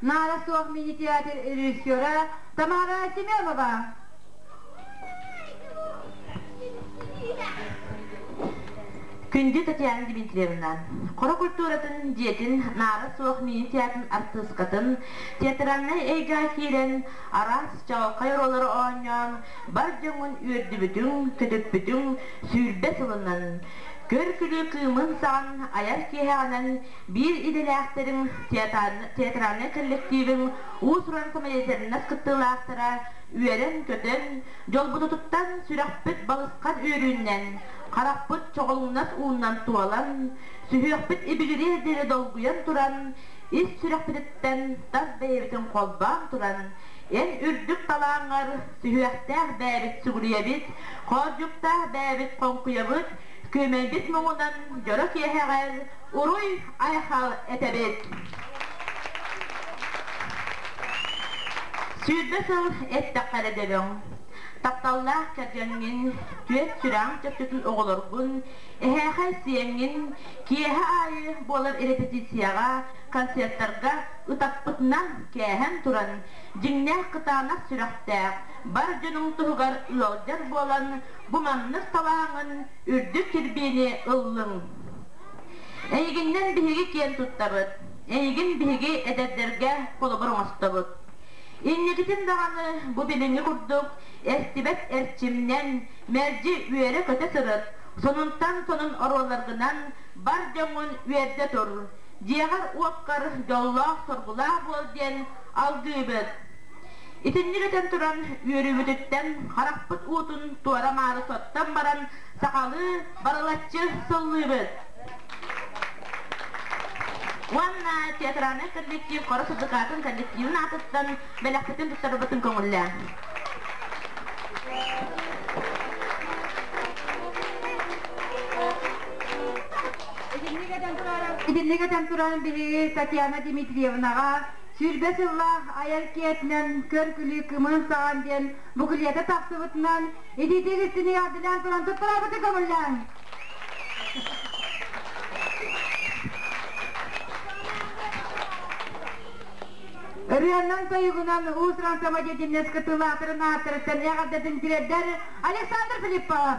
Наада суох мини-театр режиссера Тамара Семенова. Күндү Татьяна Дмитриевна, хоро культуратын дьиэтин наара суох мини-театрын артыыскатын театральнай эйгэ киирэн, араас чаҕылхай роллары оонньоон, бар дьоҥҥун үөрдүбүтүҥ, көтүппүтүҥ сүүрбэ сылынан, көр-күлүү кыымын-саҕын айар киэһэҕинэн Биир идэлээхтэрим, театральнай кэллэктиибим уус-уран комедиятыннас кыттыылаахтара үөрэн-көтөн, дьолбутутуттан сүрэхпит балысхан үөрүүнэн, харахпыт чоҕулуҥнас ууннан туолан, сүһүөхпүт ибигириэр диэри долгуйан туран, ис сүрэхпититтэн тас бэйэбитин холбоон туран, эн үрдүк талааҥҥар сүһүөхтээх бэйэбит сүгүрүйэбит, хоордьуктаах бэйэбит хоҥкуйабыт, күөмэйбит муҥунан дьоро киэһэҕэр уруй-айхал этэбит! Сүүрбэ сыл эттэххэ эрэ дөбөҥ, тапталлаах кэргэҥҥин, түөс-сүрэҕиҥ чөччутун оҕолоргун, эһээхэй сиэҥҥин киэһэ аайы буолар репетицияҕа, концертарга ытаппытынан кээһэн туран, дьиҥнээх кытаанах сүрэхтээх, бар дьонуҥ туһугар ыалдьар буолан, бу маннык талааҥҥын үрдүк кирбиини ыллыҥ. Эйигиннэн биһиги киэн туттабыт, эйигин биһиги эдэрдэргэ холобур оҥостобут. Инникитин даҕаны бу билиҥҥи курдук эстибэт эрчимнэн мэлдьи үөрэ-көтө сырыт, сонунтан сонун оруолларгынан бар дьоҥҥун үөрдэ тур, дьиэҕэр-уоккар дьоллоох-соргулаах буол диэн алгыыбыт. Итинник этэн туран үөрүүбүтүттэн харахпыт уутун туора-маары соттон баран сахалыы барылаччы сыллыыбыт. Уонна театральный коллектив Хора сырдыкаатын коллективын аатыттан бэлэхтэтин туттарбытын көҥүллээн. Итинник этэн туран биһиги Татьяна Дмитриевнаҕа сүүрбэ сыллаах айар киэтинэн көр күлүү кымын саҕан диэн букулета тахсыбытынан Илиитэ илиттин яардылаан туран туттарабыты көҥүллээн. Ырыаннан тойугунан уусуран самодеятельность кытылаатырын ааттарыттан эҕэрдэтин тириэрдэр Александр Филиппов.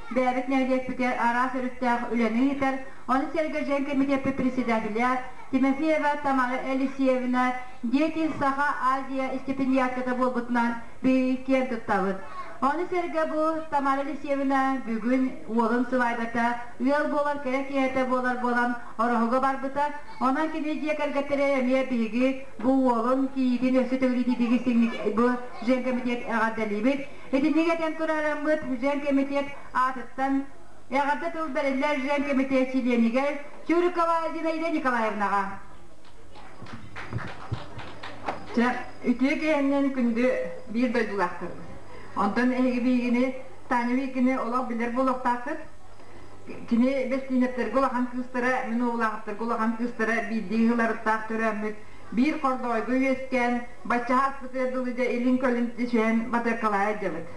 бэйэбит нэһилиэкпитигэр араас өрүттээх үлэни ыытар, ону сэргэ дьиҥ кэмитиэппит председателэ Тимофеева Тамара Елисеевна Дети Саха Азия истипендиатката буолбутунан биһиги киэн туттабыт. Ону сэргэ бу Тамара Елисеевна бүгүн уолун сыбаайбата ыал буолар кэрэ киһитэ буолар буолан ороһуга барбыта, онон кини дьиэ кэргэттэрэ эмиэ биһиги бу уолун кийиитин өссө төгүрүтүүтүгү сиҥник бу дьиҥ кэмитиэт эҕэрдэлиибит, Итинник этэн турарыммыт Жен кэмитиэт аатыттан эҕэрдэ тыл бэриллэр Жен кэмитиэт чилиэнигэр Чурикова Зинаида Николаевнаҕа. Чэ, үтүө киэһэннэн күндү биир дойдулаахтарбыт. Онтон эһиги биигини, Таня Викини олох билэр буолуохтааххыт. Кини Бэстиинэптэргэ улахан кыыстара, мин уоллаахтарга улахан кыыстара биирдии ыһыларыттаах төрөөммүт биир хордоойго үөскээн, Баччаһааспытыгар дылы дьэ илин-көлүн түсүһэн батыаккалаан илдьэбит.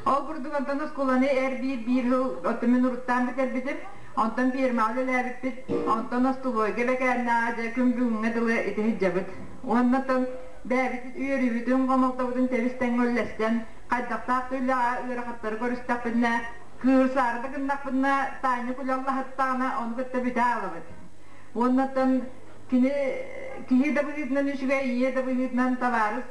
Ол курдук онтон оскуоланы эр-биир биир сыл оттон мин уруттаан бүтэрбитим. Онтон пиэрмэҕэ үлэлээбиппит. Онтон остолуойга бэкээннээҕи дьэ күн бүгүҥҥэ дылы ити сылдьабыт. Уонна тыл бэйэбитин үөрүүбүтүн, хомолтобутун тэбис-тэҥҥэ үллэстэн, хайдахтаах да үлэҕэ ыарахаттары көрүстэхпинэ, кыырсаары да гыннахпына, таанньык үлэ аллаһыттаҕына, ону кытта бүтэ аҕалабыт. Уонна оттон Кини киһи да быһыытынан үчүгэй, ийэ да быһыытынан табаарыс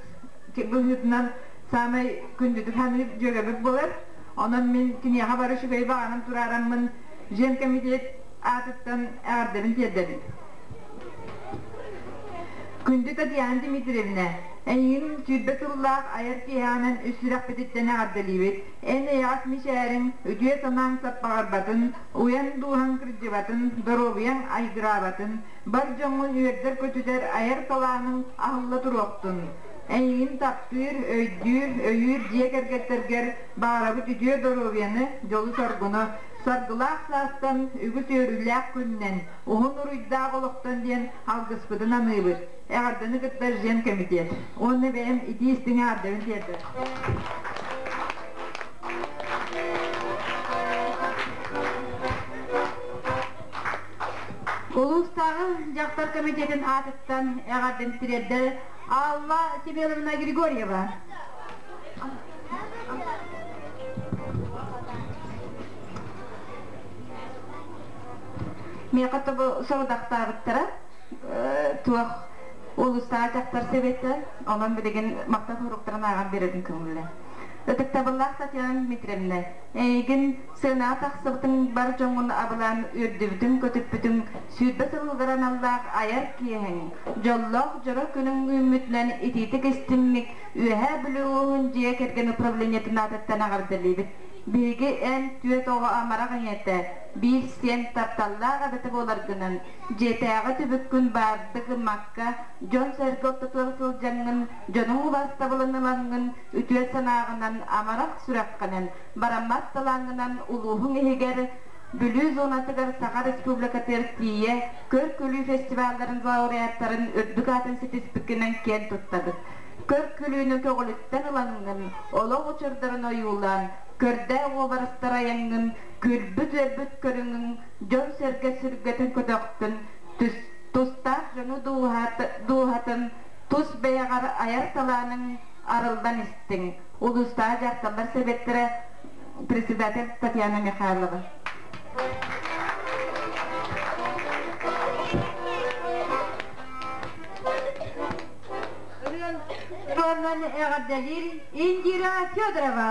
быһыытынан саамай күндүтүк саныыр дьүөгэбит буолар. Онон мин киниэхэ бары үчүгэй баҕанан тураараммын Жен кэмитиэт аатыттан эҕэрдэбин тиэрдэбин. Күндү Татьяна Дмитриевна, эйигин сүүрбэ сыллаах айар киэһэҕинэн үс сүрэхпититтэн эҕэрдэлиибит. Эн эйэҕэс мичээриҥ, үтүө-санааҥ саппаҕырбатын, уйан-дууһаҥ кырдьыбатын, доруобуйаҥ айгыраабатын, бар дьоҥҥун үөрдэр-көтүтэр айар салааныҥ аһылла туруохтун! Эйигин таптыыр, өйдүүр, өйүүр дьиэ кэргэттэргэр баҕарабыт үтүө доруобуйаны, дьолу-соргуну, саргылаах саастан, үгүс үөрүүлээх күнүнэн, уһун уруйдаах олохтон диэн алгыспытын аныыбыт. Эҕэрдэни кытта Жен кэмитиэт уонна бэйэм итии-истиҥи эҕэрдэбин тиэрдэбин. Улуустааҕы дьахтар комитетин аатыттан эҕэрдэни тириэрдэр Алла Сибеловна Григорьева. Миэхэ тобу сорудахтаабыттара. туох улуустаах дьахтар сэбиэттэн онон билигин махтал суруктарын ааҕан биэрэрин көҥүллэ. Ытыктабыллаах Татьяна Дмитриевна, эйигин сыанаҕа тахсыбытыҥ бар дьоҥҥун абылаан үөрдүбүтүн, көтүппүтүҥ сүүрбэ сыллар аналлаах айар киэһэҥ, дьоллоох дьоро күнүҥ үүммүтүнэн итиитик истиҥник Үөһээ Бүлүү улууһун дьиэ кэргэн управлениетын аатыттан эҕэрдэлиибит. Биһиги эн түөрт оҕо амарах ийэтэ, биир сиэн тапталлаах эбэтэ буоларгынан Дьиэтээҕи түбүккүн баардык ымакка, дьон-сэргэ ортотугар сылдьаҥҥын, дьонуҥ убаастабылын ылаҥҥын үтүө санааҕынан, амарах сүрэххинэн, бараммат талааҥҥынан улууһуҥ иһигэр, Бүлүү зонатыгар Саха Республикатыгар тиийэ көр-күлүү фестивалларын лауреаттарын үрдүк аатын ситиспиккинэн киэн туттабыт. Көр-күлүүнү көҕүлүттэн ылаҥҥын, олох учурдарын ойуулаан, көрдөөх уобарастар айаҥҥын, күлбүт-үөрбүт көрүҥүҥ дьон-сэргэ сүргэтин көтөхтүн, түс, тустаах дьону дууһатын, тус бэйэҕэр айар талааныҥ арыллан истиҥ, улуустааҕы дьахталлар сэбиэттэрэ председатель Татьяна Михайлова. Ырыаннан эҕэрдэлиир Индира Федорова.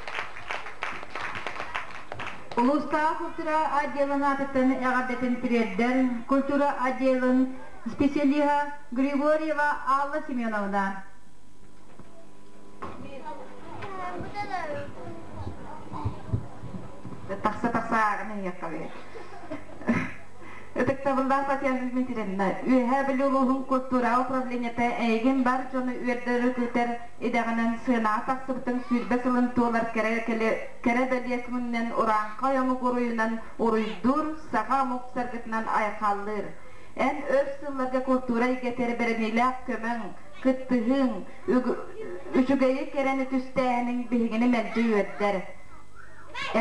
Улуустаах культура отделын аатыттан эҕэрдэтин тириэрдэр культура отделын специалиһа Григорьева Алла Семеновна. Тахса-тахса ааҕын ыйыахха Ытыктабыллаах Татьяна Дмитриевна, Үөһээ Бүлүү улууһун култуура управлениета эйигин бар дьону үөрдөрү күүтэр Идэҕинэн сыанаҕа тахсыбытыҥ сүүрбэ сылын туолар кэрэ бэлиэ күҥүнэн урааҥхай омук уруйунан уруйдуур, саха омук саргытынан айхаллыыр. Эн өр сылларга култуура эйгэтигэр бэриниилээх көмөҥ, кыттыһыыҥ, үчүгэйи кэрэни түстээһиниҥ биһигини мэлдьи үөрдэр.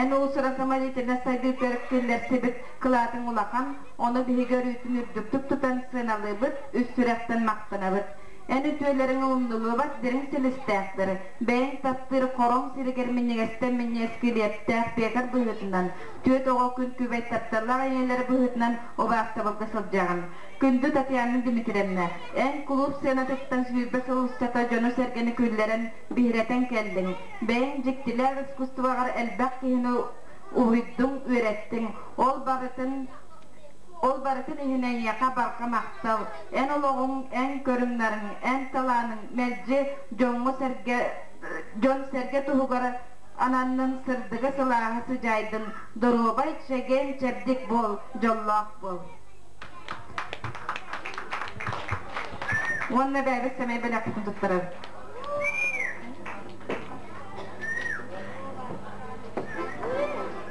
Эн уусура самодятельнай сайдыытыгар киллэрсибит кылаатыҥ улахан, ону биһиги өрүүтүн үрдүктүк тутан сыаналыыбыт, үс сүрэхтэн махтанабыт. Эн үтүөлэриҥ ылыллыллыбат дириҥ силистээхтэр, бэйэҥ таптыыр Хороҥ сиригэр минньигэстэн минньиэски лиэптээх Петр быһыытынан, түөрт оҕо күҥкүбэй тапталлаах ийэлэр быһыытынан убаастабылга сылдьаҕын. Күндү Татьяна Дмитриевна, эн кулууп сценатыттан сүүрбэ сыл устата дьону-сэргэни күүллэрэн, биһирэтэн кэллиҥ. Бэйэҥ дьиктилээх искусствоҕар элбэх киһини уһуйдуҥ, үөрэттиҥ. Ол барытын. Ол барытын иһин эйиэхэ барҕа махтал, эн олоҕуҥ, эн көрүҥнэриҥ, эн талааныҥ мэлдьи дьоҥҥо-сэргэ, дьон-сэргэ туһугар ананнын, сырдыгы-сылааһы сыдьаайдын, доруобай, чэгиэн-чэбдик буол, дьоллоох буол. Уонна бэйэбит сэмэй бэлэхпитин туттарар.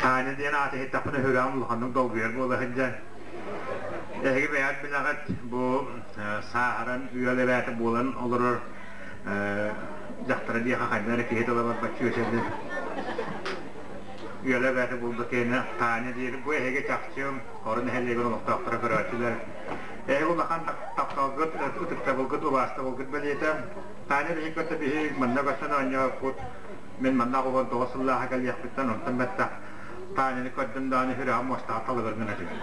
Таня диэн ааты иһиттэхпинэ өһүгэҕим улаханнык долгуйар буола сылдьан эһиги бэйэҕит билэҕит бу сааһыран ыал эбээтэ буолан олорор дьахтара диэхэ ханна эрэ киһи тыла барбат чүөсэнин ыал эбээтэ буолбут киһини Таня диэри бу эһиги чахчым Орон нэһилиэгин олохтоохторо көрөөччүлэр Эһиги улахан тапталгыт, ытыктабылгыт, убаастабылгыт бэлиэтэ. Таня биһиги көрсө биһи манна көрсөн оонньообуппут. Мин манна аҕабын тоҕус сыллааҕы кэлиэхпиттэн онтон бэттэх Таняны көрдүм даҕаны үһүрэҕим муостаҕа талыбын гына түһүм.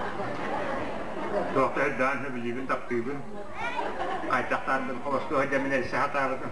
Туохта сырдаан үһү, билиибин, таптыыбын. Хайдах таардыбын холостуу сылдьаммын эрсэ сатаабытым.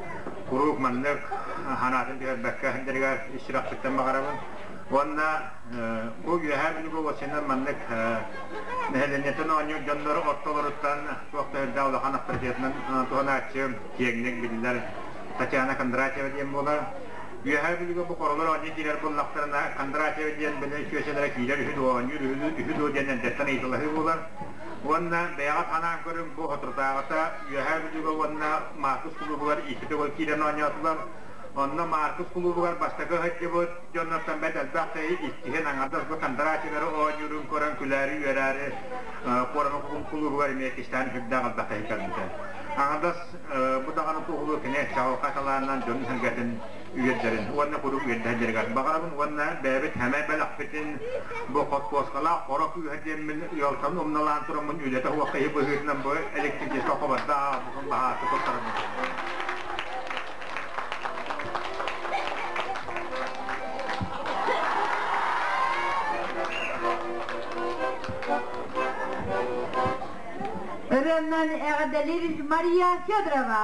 куруук маннык санаатын түһэрбэккэ сылдьарыгар сүрэхпиттэн баҕарабын уонна бу үөһээ бүлүгү уоссанан маннык нэһилиэнньэттэн оонньуур дьоннор ортолоруттан туох да үрдээх улахан авторитетынан туһанааччы киэҥник биллэр Татьяна Кондратьева диэн буолар үөһээ бүлүгэ бу хоролор оонньуу киирэр буоллахтарына Кондратьева диэн били сүөсэлэрэ киирэр үһү дуо оонньуур үһү дуо диэн эрдэттэн ыйыталаһыы буолар Уонна бэйэҕит анаан көрүҥ, бу соторутааҕыта Үөһээ Бүлүүгэ уонна Маркус кулуубугар иккитэ киирэн оонньоотулар. Онно Маркус кулуубугар бастакы сылдьыбыт дьоннортон бэрт элбэх дьайыы иккиһин аҥардас Кондрачевары оонньуурун көрөн күлээри-үөрээри Куораны кулуубугар эмиэ кистээн сырдаах элбэхтэһи көрбүтэ. Аҥардас бу даҕаны туоһулуур кини чаҕылхай талаанынан дьонун сэргэтин үөрдэрин уонна куруук үөрдэһэллэригэр баҕарабын уонна бэйэбит сэмэй бэлэхпитин бу хоппуоскалаах хоро күүһэ диэммин ыалтан умналаан тураммын үлэтэ суохха иһи быһыытынан бу электричество хобордо ааҕабын баһааты туттарабын роман эҕдэлир мария федорова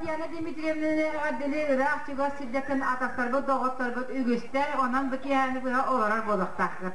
Татьяна Дмитриевна эҕэрдэни ыраах чугас сирдэтин атахтарбыт доҕотторбут үгүстэр онон бу киэһэни быһа олорор буолуохтааххыт.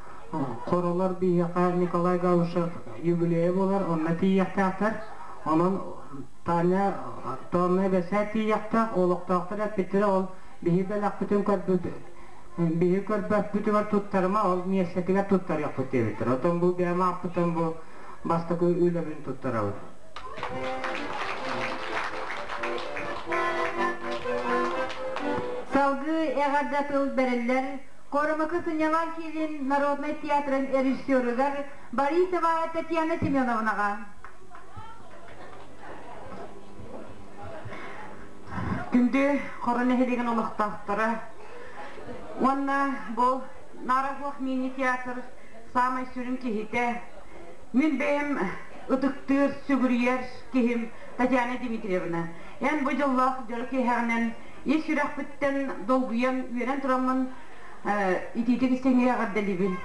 Хоролор биһиэхэ Николай Гаушев юбилейа буолар, онно тиийиэхтээхтэр. Онон Таня тооннай бэсээт тиийиэхтээх, олохтоохтор эппиттэрэ ол биһи бэлэхпитин көрбүт, биһи көрбөппүтүгэр туттарыма, ол миэстэтигэр туттарыахпыт диэбиттэр. Оттон бу бэйэм аахпытым бу бастакы үлэбин туттарабын. Салгыы эҕэрдэ тыл бэриллэр Куорумҥа сынньалаҥ киинин народнай театрын режиссерыгар Борисова Татьяна Семеновнаҕа Күндү Хоро нэһилиэгин олохтоохторо уонна бу Нара Хуох мини-театр саамай сүрүн киһитэ, мин бэйэм ытыктыыр, сүгүрүйэр киһим Татьяна Дмитриевна. Эн бу дьоллоох дьоро киэһэҕинэн ис сүрэхпиттэн долгуйан үөрэн тураммын итиитик истиҥҥэ эҕэрдэлиибин.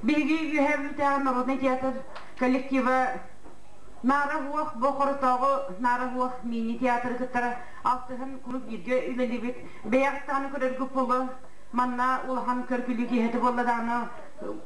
Биһиги үөһээбиттээх народнай театр коллектива Наара Уох бу хоротооҕу Наара Уох мини-театры кытары алтыһан кулууп бииргэ үлэлиибит. Бэйэҕит даҕаны көрөргүт буолуо, манна улахан көргүлүү киэһэтэ буолла даҕаны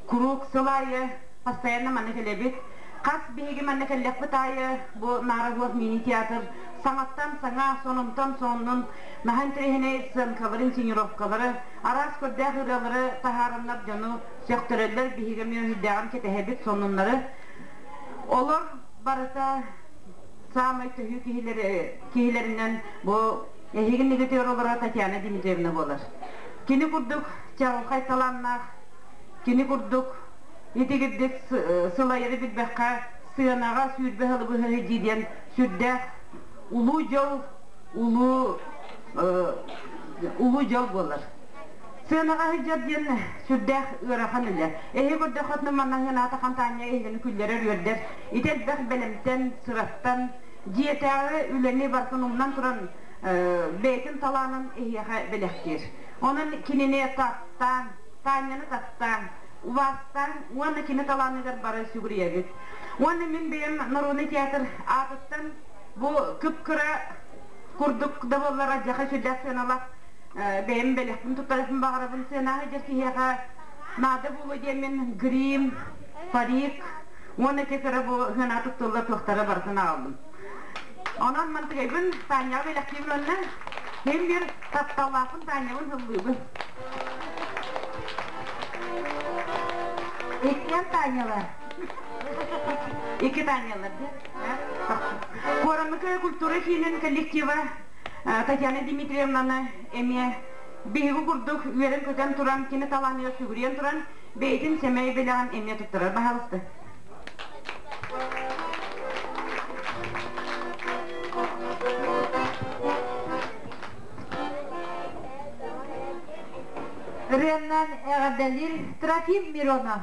куруук сыл аайы постоянно манна кэлэбит. Хас биһиги манна кэллэхпит аайы бу Наара Уох мини-театр саҥаттан саҥа, сонунтан сонун наһаа интэриэһинэй сценкаларын, сценировкалары, араас көрдөөх ырыалары таһаараннар дьону сөхтөрөллөр, биһиги эмиэ өһүйдээҕин кэтэһэбит сонуннары. Олор барыта саамай төһүү киһилэри, киһилэринэн бу эһиги негатер олоро Татьяна Дмитриевна буолар. Кини курдук чаҕылхай талааннаах, кини курдук итигирдик сылайары билбэххэ сыанаҕа сүүрбэ сылы быһа дии диэн Сүрдээх улуу дьол, улуу, улуу дьол буолар. Сыана сыдьар диэн сүрдээх ыарахан үлэ. Эһи көрдөххүтүнэ манна сыаната хампаанньа иһигини күллэрэр үөрдэр. Ити элбэх бэлэмтэн, сыраттан, дьиэтээҕи үлэни барытын умнан туран бэйэтин талаанын эһиэхэ бэлэхтиир. Онон кинини таптаан, Таанньаны таптаан, убаастаан уонна кини талааныгар бары сүгүрүйэбит. Уонна мин бэйэм Норуонай театр аатыттан бу кып-кыра курдук да буоллар алдьархай сүрдээх сыаналаах бэйэм бэлэхпин туттарыахпын баҕарабын. Сыанааһы дьэр киһиэхэ наада буолуо диэн мин Грим, Фарик уонна те кыра бу сыанаа туттуллар туохтара барытын аҕалбын. Онон мантыгайбын Тааньаҕа бэлэхтиим уонна мен бир тапталлаахпын Тааньябын һыллыыбын. Иккиэн Тааньялар Икки Таанялар, Куорамыкая культура киинин коллектива Татьяна Дмитриевнаны эмиэ биһиги курдук үөрэн-көтөн туран, кини талааныгар сүгүрүйэн туран, бэйэтин сэмэй бэлэҕин эмиэ туттарар баһаалыста. Реннан эҕэрдэлиир Трофим Миронов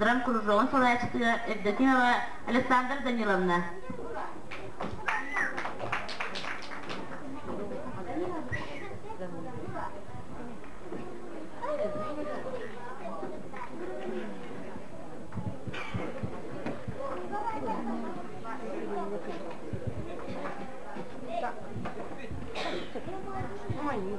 Драмкузовоҕун салайааччытыгар Евдокия Иванова Александра Даниловна. Мани.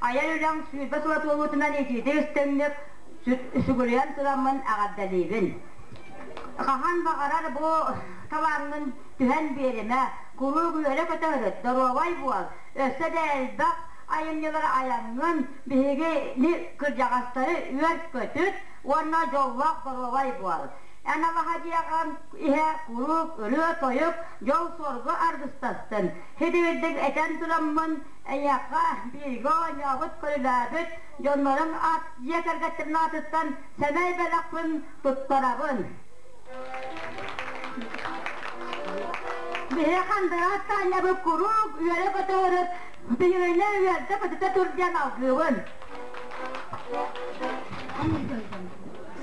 Айар үлэм сүүрбэ сыла туолуутунан итиитик истиҥник сүгүрүйэн тураммын эҕэрдэлиибин. Хаһан баҕарар бу талааммын түһэн биэримэ, куруук үөрэ-көтө ырыт, доруобай буол, өссө да элбэх айымньылары айаҥҥын, биһиги кырдьаҕастары үөр-көтүт уонна дьоллоох доруобай буол. Эн алаһа дьиэҕин иһэ куруук ырыа-тойук, дьол-суоргу аргыстастын. Һидигирдик этэн тураммын Эйиэхэ бииргэ оонньообут, көрүлээбит дьоннорум ат дьиэ кэргэттэрин аатыттан сэмэй бэлэхпин туттарабын. Биһиги Хандыгас Таанньабыт куруук үөрэ-көтө өрүт, биһигини үөрдэ-көтүтэ тур диэн алгыыбын.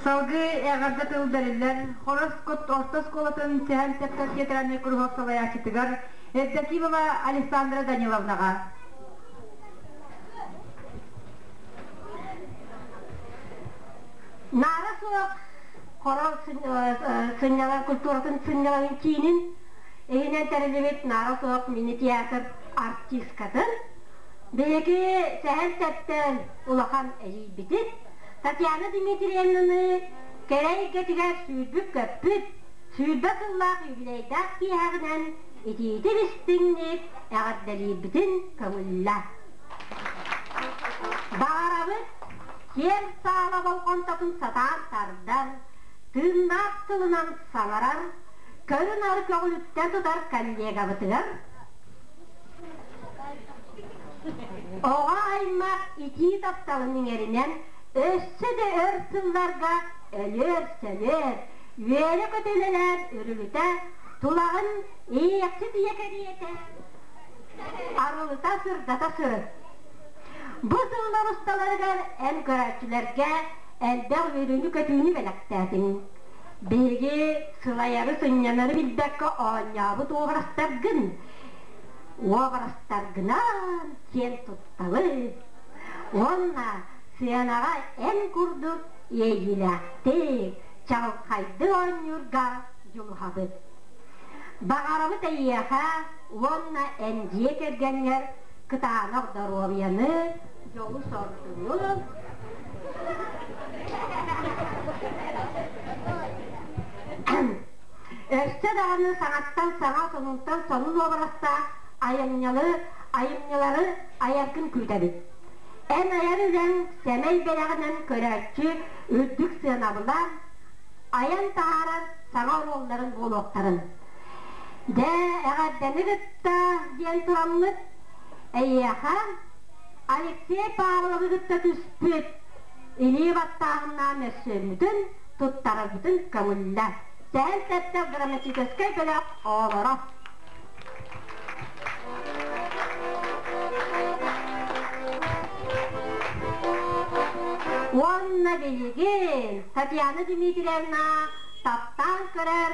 Салгыы эҕэрдэ тыл бэриллэр, Хорос кут орто оскуолатын Сэһэн Сэпсэр театральнай куруһуок салайааччытыгар Евдокимова Александра Даниловнаҕа, Наара суох хоро сынньалаҥ культуратын сынньалаҥын киинин иһинэн тэриллибит Наара суох мини-театр артыыскатын биһиги Сэһэн-Сэттэн улахан эһиийбитин Татьяна Дмитриевнаны кэрэ эйгэтигэр сүүрбүт-көппүт, сүүрбэ сыллаах үбүлүөйдээх киэһэҕинэн итиитин истиҥник эҕэрдэлиирбитин көҥүллэ. Баҕарабыт киэн саала болҕомтотун сатаан тардан, тыыннаах тылынан саҥарар, көрү-нары көҕүлүттэ тутар коллегабытыгар, оҕо аймах итии тапталын иҥэринэн өссө да өр сылларга өлүөр-сөлүөр, үөрэ көтөлөрөөн үрүлүтэ тулаҕын иэксит ийэ кэриэтэ арылыта сырдата сырыт. Бу сыылар усталарыгар эн көрөөччүлэргэ элбэх үөрүүнү-көтүүнү бэлэхтээтиҥ. Биһиги сылайары сынньанары билбэккэ оонньообут уобарастаргын уобарастаргынан сиэн тутталыы уонна сыанаҕа эн курдук иэйиилээхтик чаҕылхайдык оонньуурга дьулуһабыт. Баҕарабыт эйиэхэ уонна эн дьиэ кэргэҥҥэр кытаанах доруобуйаны, дьолу-соргуну, өссө даҕаны саҥаттан саҥа сонунтан сонун уобарастаах айымньылары айымньылары айаргын күүтэбит. Эн айар үлэҥ сэмэй бэлэҕинэн көрөөччү үрдүк сыанабылаан, айан таһаарар саҥа оруолларын буолуохтарын. Дьэ, эҕэрдэни кытта диэн тураллыт. Эйиэхэ Алексей Павловы кытта түспүт илии баттааһыннаах мөссүөммүтүн туттарарбытын көҥүллэ. Сэһэн сэттэ грамматическай бөлөх оҕолоро. Уонна билигин Татьяна Дмитриевна таптаан көрөр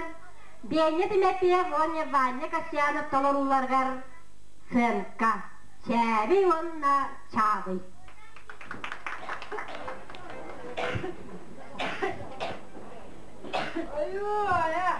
Беня Тимофеев уонна Ваня Касьянов толорууларыгар цирка, чээбий уонна чааҕый. Ой-ой-ой!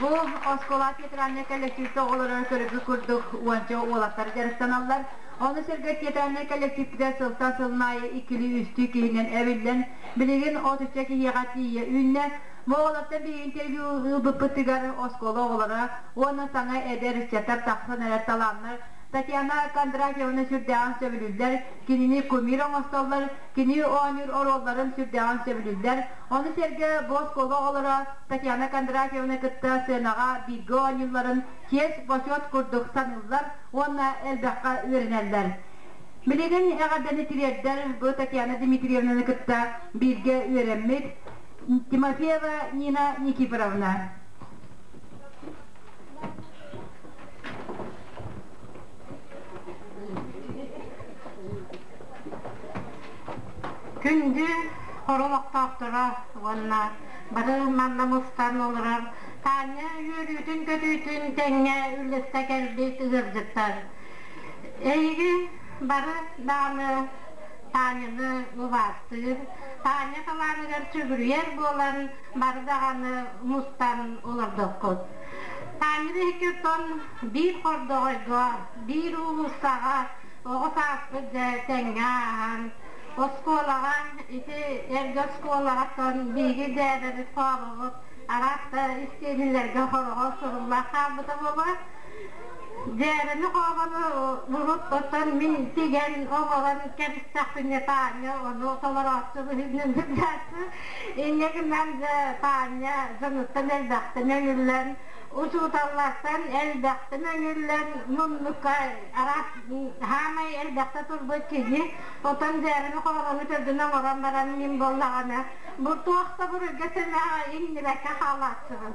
Бу оскуола театральнай коллективte оҕолорун көрүгү курдук уонча уолаттар дьарыктаналлар. Ону сэргэ театральнай коллективтэ сылтан сылын аайы иккилии-үстүү киһинэн эбиллэн, Билигин от ычча киһиэхэ тиийэ үүннэ. Бу оҕолортон билигин тэлги ылбыппытыгар оскуола оҕолоро уонна саҥа эдэр ыччаттар тахсан эрэр талааннар Татьяна Кондратьевна сүрдээҕин сөбүлүүллэр, кинини кумир оҥостоллор, кини оонньуур оруолларын сүрдээҕин сөбүлүүллэр. Ону сэргэ бу оскуола оҕолоро Татьяна Кондратьеваны кытта сценаҕа бииргэ оонньуулларын чиэс, бочуот курдук саныыллар уонна элбэххэ үөрэнэллэр. Билигин эҕэрдэни тириэрдэрб Татьяна Дмитриевнаны кытта бииргэ үөрэммит Тимофеева Нина Никифоровна. Күндү хор олохтоохторо уонна бары манна мустан олорор Таанньа үөрүүтүн-көтүүтүн тэҥҥэ үллэстэ кэлбит ыалдьыттар! Эйигин бары Дааны Тааньаны убаастыыр, Тааньа талааныгар сүгүрүйэр буолан бары даҕаны мустан олордоххут. Тааньаны икки тон биир хордоҕойго, биир уулуссаҕа оҕо сааспыт дьэ тэҥҥэ ааһан, оскуолаҕа ити эргэ оскуолаҕа тон биһиги дьээбэбит-хоороҕут араас да истиэнэлэргэ хороҕо сурулла хаалбыта буолуо. Дьээрэни хообону булут оттон мин тигэн оҕолору кэбистэхпинэ Таанньа ону толорооччу быһыытынан сылдьааччы инньэ гынан дьэ Таанньа дьонуттан элбэхтэн өҥүллэн учууталлартан элбэхтэн өҥүллэн муннукка араас хаамай элбэхтэ турбут киһи отон дьээрэни хообону төрдүн оҥорон баран мин буоллаҕына бу туох да буруйга сэмэҕэ иҥнибэккэ хаалааччыбын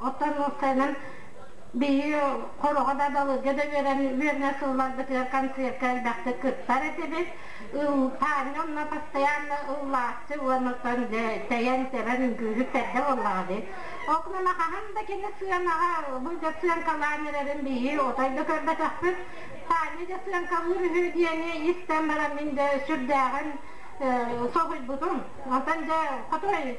Отторуовканан биһиги хороҕо да, балыга да үөрэн үөрэнэ сылларбытыгар концертка элбэхтик кыттар этибит. Таанньа онно постоянно ыллааччы уонна оттон тэйэн-тэбэн үҥкүүһүт эрдэ буоллаҕа дии. Ол гынан хаһан да кини сыанаҕа бу дьэ сыаҥкалаан эрэрин биһиги отой да көрбөтөхпүт. Таанньа дьэ сыаҥкалыыр үһү диэни истэн баран мин дэ сүрдээҕин соһуйбутум. Онтон дьэ хотой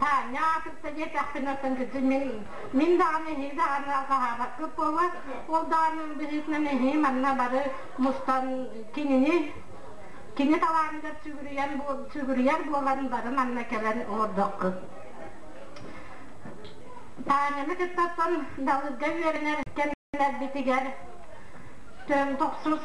Таня кытта диэтэхпинэ оттон кытын мин даҕаны эһиги даҕаны алҕаһаабаккыт буолуо ол даҕаны быһыытынан эһиги манна бары мустан кинини кини талааныгар сүгүрүйэн сүгүрүйэр буолан бары манна кэлэн олордоххут Таняны кытта оттон далырга үөрэнэр кэмнэрбитигэр тохсус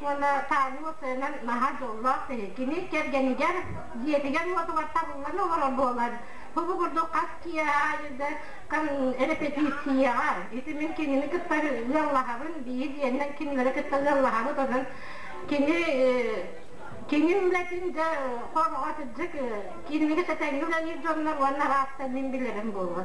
уонна таанньы сыанан наһаа дьоллоох киһи. Кини кэргэнигэр, дьиэтигэр-уотугар табыллан олорор буолан, бу курдук хас киһи аайы да эрэпэтииссийэҕэ, ити мин кинини кытта ыаллаһабын, биһилиэннэн кинилэри кытта ыаллаһабыт онон кини кини үлэтин да хороҕо сырдык, кинилэргэ сэтэнньи үлэлиир дьоннор уонна араастан мин билэрим буолуо.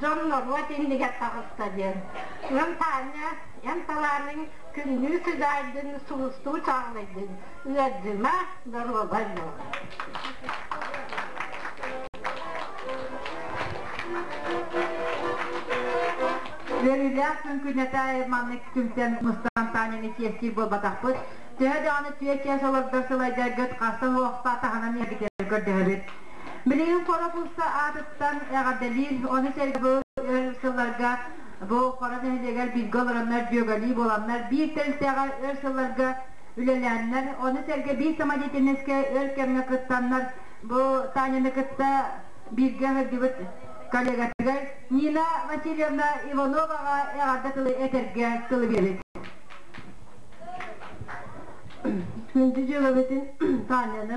дьон норуот иннигэр таҕыста диэн. Ыам Таанньа, эн талааныҥ күннүү сыдьаайдын, сулустуу чаҕылыйдын, ыалдьыма, доруобай Үөрүүлээх күн күнэтэ айманнык түмсэн мустан Таанньаны чиэстии буолбатахпыт. Төһө даҕаны түөрт чаас олордор сылайдаргыт хаста-суохта таһынан иһэргитин көрдөһөбүт. Билигин Хоропууска аатыттан эҕэрдэлиир, ону сэргэ бу өр сылларга бу Хоро нэһилиэгэр бииргэ олороннор дьүөгэлии буоланнар, биир тэрилтэҕэ өр сылларга үлэлээннэр, ону сэргэ биир самодеятельноска өр кэмҥэ кыттаннар, бу Таняны кытта бииргэ сылдьыбыт коллегатыгар Нина Васильевна Ивановаҕа эҕэрдэ тылы этэргэ тылы биэбит. Күндү дьыалабытын Таняны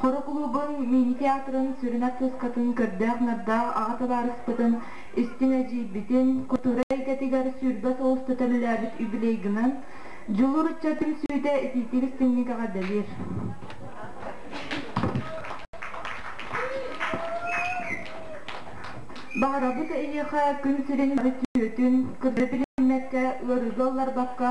Хоро кулуубун мини-театрын сүрүн артыыскатын көрдөөх-нардаах аҕа табаарыспытын истиҥ эдьиийбитин, кутура эйгэтигэр сүүрбэ сыл устата үлэлээбит юбилейгынан Дьулуур ыччатын сүүйдэ итиитик-истиҥник эҕэрдэлиир. Баҕарабыт эйиэхэ күн сирин сүөтүн, кырдары билиммэккэ, ыарыылы алларбакка,